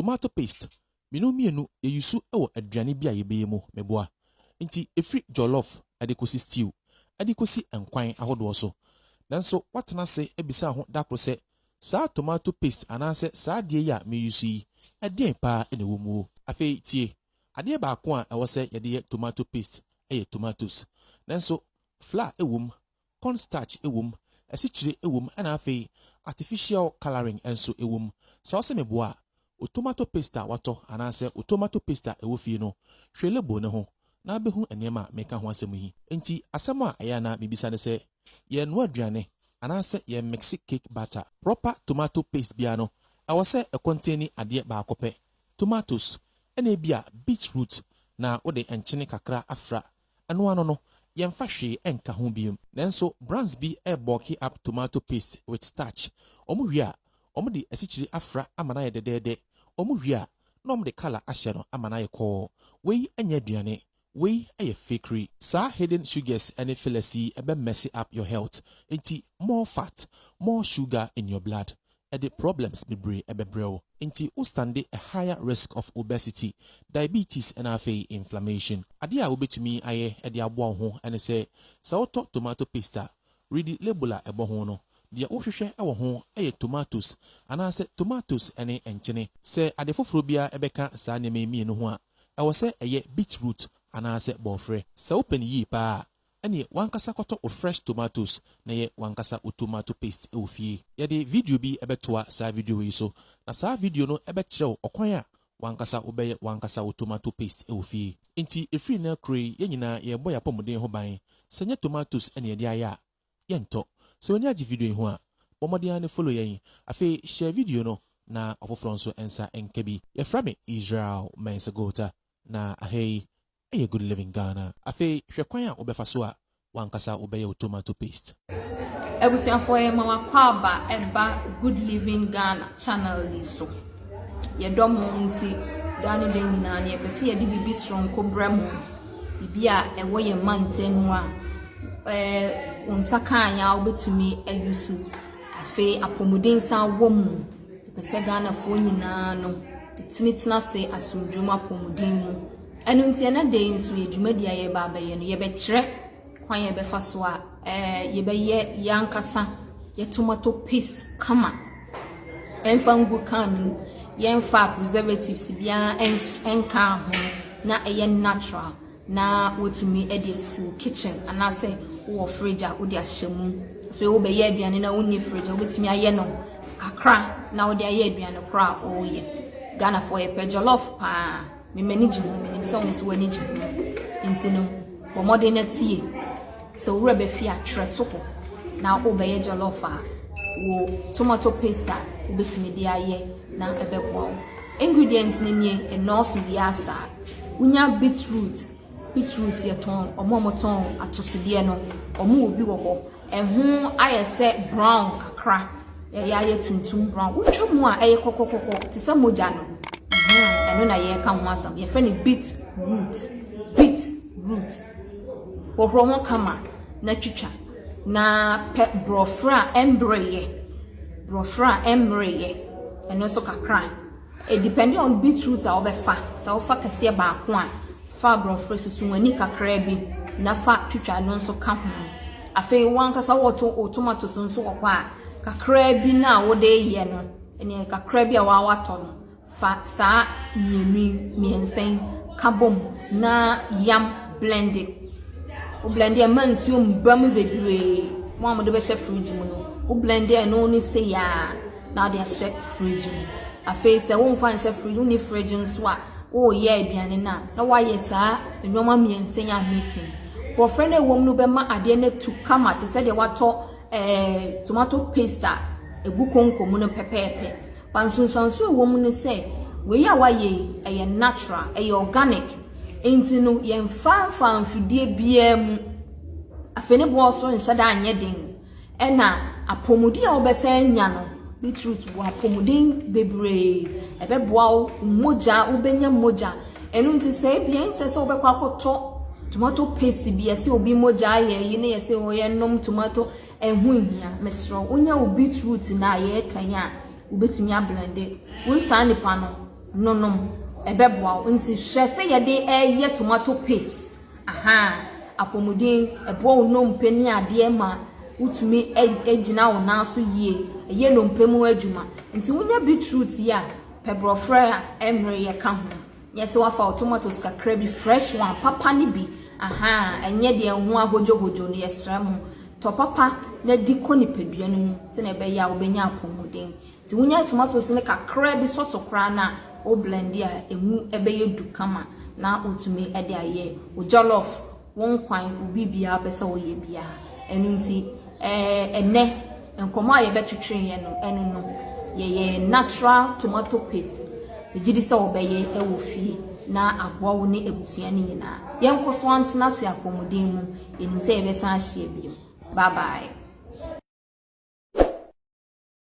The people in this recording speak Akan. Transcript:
Tomato paste, minu mmienu yɛ yusu wɔ aduane bi a yɛbɛyɛ mu, meboa. Nti ɛfiri jollof de kɔsi stew de kɔsi nkwan ahodoɔ so. Nanso woatena ase abisaa ho da koro sɛ, Saa tomato paste anaasɛ saa adeɛ yi a meyusu yi, ɛdeɛn pa ara na ɛwɔ mu o? Afei tie, Adeɛ baako a ɛwɔ sɛ yɛde yɛ tomato paste yɛ tomatoes. Nanso flour wɔ mu, Corn starch wom, asikyire wom ɛna afei artificial colouring nso wom. Sɛ wosɛ me boa a, wo tomato paste a woatɔ anaasɛ wo tomato paste a ɛwɔ fie no, hwɛ label no ho na wobɛhu nneɛma a mereka ho asɛm yi. Enti asɛm a ɛyɛ a na mebisa ne sɛ, yɛrenoa aduane anaasɛ yɛremikse cake batter? Proper tomato paste biara no, ɛwɔ sɛ ɛkɔntɛni adeɛ baako pɛ, tomatoes, ɛna ebia beet root na wode nkyene kakra afra Ɛno ano no, yɛmfa hwee nka ho biom. Nanso brands bi bɔlky up tomato paste with starch. Wɔn wie a, wɔde asikyire afra ama no ayɛ dɛdɛɛdɛ. Wɔn wie a, na wɔde colour ahyɛ no ama no ayɛ kɔɔ. Wei nyɛ aduane. Wei yɛ fakery. Saa hidden sugars ne fillers yi bɛ mess up your health. Enti more fat, more sugar in your blood. ɛde problems bebree ɛbɛbrɛ wo nti wo stande a higher risk of obesity, diabetes ɛna afei inflammation. Adeɛ a wo bɛtumi ayɛ ɛde aboa wo ho ɛne sɛ, sɛ wo tɔ tomato paste a, readi label a ɛbɔ ho no. Deɛ wo hwehwɛ ɛwɔ ho ɛyɛ tomatoes anaasɛ tomatoes ɛne nkyene. Sɛ ade foforɔ biara ɛbɛka saa nneɛma yi mmienu ho a, ɛwɔ sɛ ɛyɛ beetroot anaasɛ bɔɔfrɛ. Sɛ wo pɛ no yie paa a, Ɛneɛ wankasa kɔtɔ wo fresh tomatoes na yɛ wankasa wo tomato paste wɔ fie. Yɛde video bi bɛtoa saa video wei so, na saa video no bɛkyerɛ wo ɔkwan a wankasa wobɛyɛ wankasa wo tomato paste wɔ fie. Enti ɛfiri nnɛ korɔ yi yɛn nyinaa yɛrebɔ yɛn apɔmuden ho ban, sɛ nyɛ tomatoes na yɛde ayɛ a, yɛntɔ. Sɛ w'ani agye video yi ho a, bɔ mmɔden ara ne follow yɛn. Afei share video no na ɔfoforɔ nso nsa nka bi. Yɛfrɛ me Israel Mensah Gota, na aha yi Ɛyɛ good living Ghana. Afei hwɛ kwan a wobɛfa so a wankasa wobɛyɛ wo tomato paste. Abusuafoɔ yɛma mo akwaaba ɛba good living Ghana channel yi so. Yɛdɔ mo nti daa ne da nyinaa no yɛpɛ sɛ yɛde biribi soronko brɛ mo. Biribi a ɛwɔ yɛn mantam mu a ɛɛ wo nsa kaa yɛn a wobɛtumi ayi so. Afei apɔmuden san wɔ mu. Yɛpɛ sɛ Ghanafoɔ nyinaa no yɛtumi tena ase asomdwoe mu apɔmuden mu. Ɛno nti, ɛnnɛ da yi nso yɛ dwumadi a yɛreba abɛyɛ no, yɛbɛkyerɛ kwan a yɛbɛfa so a eh, yɛbɛyɛ yɛn ankasa yɛ tomato paste kama ɛmfa ngu kan no mu yɛmfa preservatives biara nka ho na ɛyɛ natural na wotumi de asi wo kitchen anaasɛ wowɔ fridge a wode ahyɛ mu afei wobɛyɛ aduane na wonni fridge a wobɛtumi ayɛ no kakra na wode ayɛ aduane korɔ a wɔreyɛ ghanafoɔ yɛpɛ jollof paa Me m'ani gye ho, menim sɛ wo nso w'ani gye ho. Enti no, bɔ mmɔden na tie. Sɛ wo werɛ bɛfi a, twerɛ to hɔ. Na wobɛyɛ jollof a, wo tomato paste a wobɛtumi de ayɛ na ɛbɛboa wo. Ingredients no nie, ɛnnɔɔso biara saa. Wonya beetroot, Beet root yɛtɔn, ɔmo a ɔmo tɔn atosodeɛ no, ɔmo wɔ bi wɔ hɔ. Ɛho ayɛ sɛ brown kakra, ɛyɛ ayɛ tuntum brown. Wotwa mu a ɛyɛ kɔkɔkɔkɔ te sɛ mogya no. Ɛno na yɛka ho asɛm. Yɛfrɛ no beet root. Beet root. Hohoro ho kama na twitwa. Na pɛ borɔfrɛ a ɛmbreyɛ. Borɔfrɛ a ɛmbreyɛ. Ɛno nso kakra. It depending on beet root a wobɛfa, sɛ wofa kɛseɛ baako a, fa aborɔfrɛ susu w'ani kakraa bi na fa twitwa no nso ka ho. Afei wankasa wɔto wo tomatoes nso wɔ hɔ a, kakraa bi no a wode yɛ no, ɛneɛ kakraa bi a wawatɔ no, fa saa mmienu yi, mmiɛnsa yi ka bom na yam blend it. Wo blend a ma nsuo mba mu bebree, mo a mode bɛhyɛ fridge mu no, wo blend ɛno ne sɛ yaa na wode ahyɛ fridge mu. Afei sɛ womfa nhyɛ fridge mu, wonni fridge nso a, woreyɛ aduane no a, na woayɛ saa nneɛma mmiɛnsa yi ahweken. Borɔfrɛ no a ɛwɔ mu no bɛma adeɛ no atu kama te sɛ deɛ watɔ eh, tomato paste a ɛgu konko mu no pɛpɛɛpɛ. Ba nsunsuanso a ɛwɔ mu ne sɛ, wei a woayɛ yi, ɛyɛ natural, ɛyɛ organic. Nti no, yɛmfa mfa mfidie biara mu. Afei ne boɔ nso nhyɛ da nyɛ den. Ɛna apɔmuden a wobɛsan anya no, beetroot wɔ apɔmuden bebree. Ɛbɛboa wo mogya, wobɛnya mogya. Ɛno nti sɛ ebia ɛnsɛ sɛ wobɛkɔ akɔtɔ tomato paste bi ɛsɛ obi mogya ayɛ yi ne yɛsɛ wɔyɛ nom tomato ɛho nhia. Mesrɛ wo wonya wo beetroot na yɛreka yi a wobɛtumi ablende. Wo saa nipa no nonom ɛbɛboa wo. Nti hwɛ sɛ yɛde ɛyɛ tomato paste Ahaa, apɔmuden, ɛboa wo nnompe ne adeɛ ma wotumi gyina wo nan so yie, ɛyɛ nnompe mu adwuma. Nti wonya beetroot yi a, pɛ borɔferɛ a ɛmmereyɛ ka ho. Nyɛ sɛ wafa wo tomatoes kakra bi, fresh one, papa no bi. Ahaa, ɛnyɛ deɛ ɛho ahodwohodwo no, yɛsrɛ mo. Tɔ papa na di kɔ nipadua no mu sɛdeɛ ɛbɛyɛ a wobɛnya apɔmuden. Sɛ wonya tomatoes no kakra bi sɔ so koraa na wo blend a, emu bɛyɛ du kama na wotumi de ayɛ wo jollof, wo nkwan, wo biribiara wopɛ sɛ woyɛ biara. Ɛno nti ɛnɛ nkɔmmɔ a yɛbɛtwetweeɛ no, ɛno no yɛyɛ natural tomato paste. Megye di sɛ wobɛyɛ wɔ fie na aboa wo ne abusua no nyinaa. Yɛnkɔ so antena ase apɔmuden mu, yɛnim sɛ yɛbɛsan ahyia bio. Bye bye.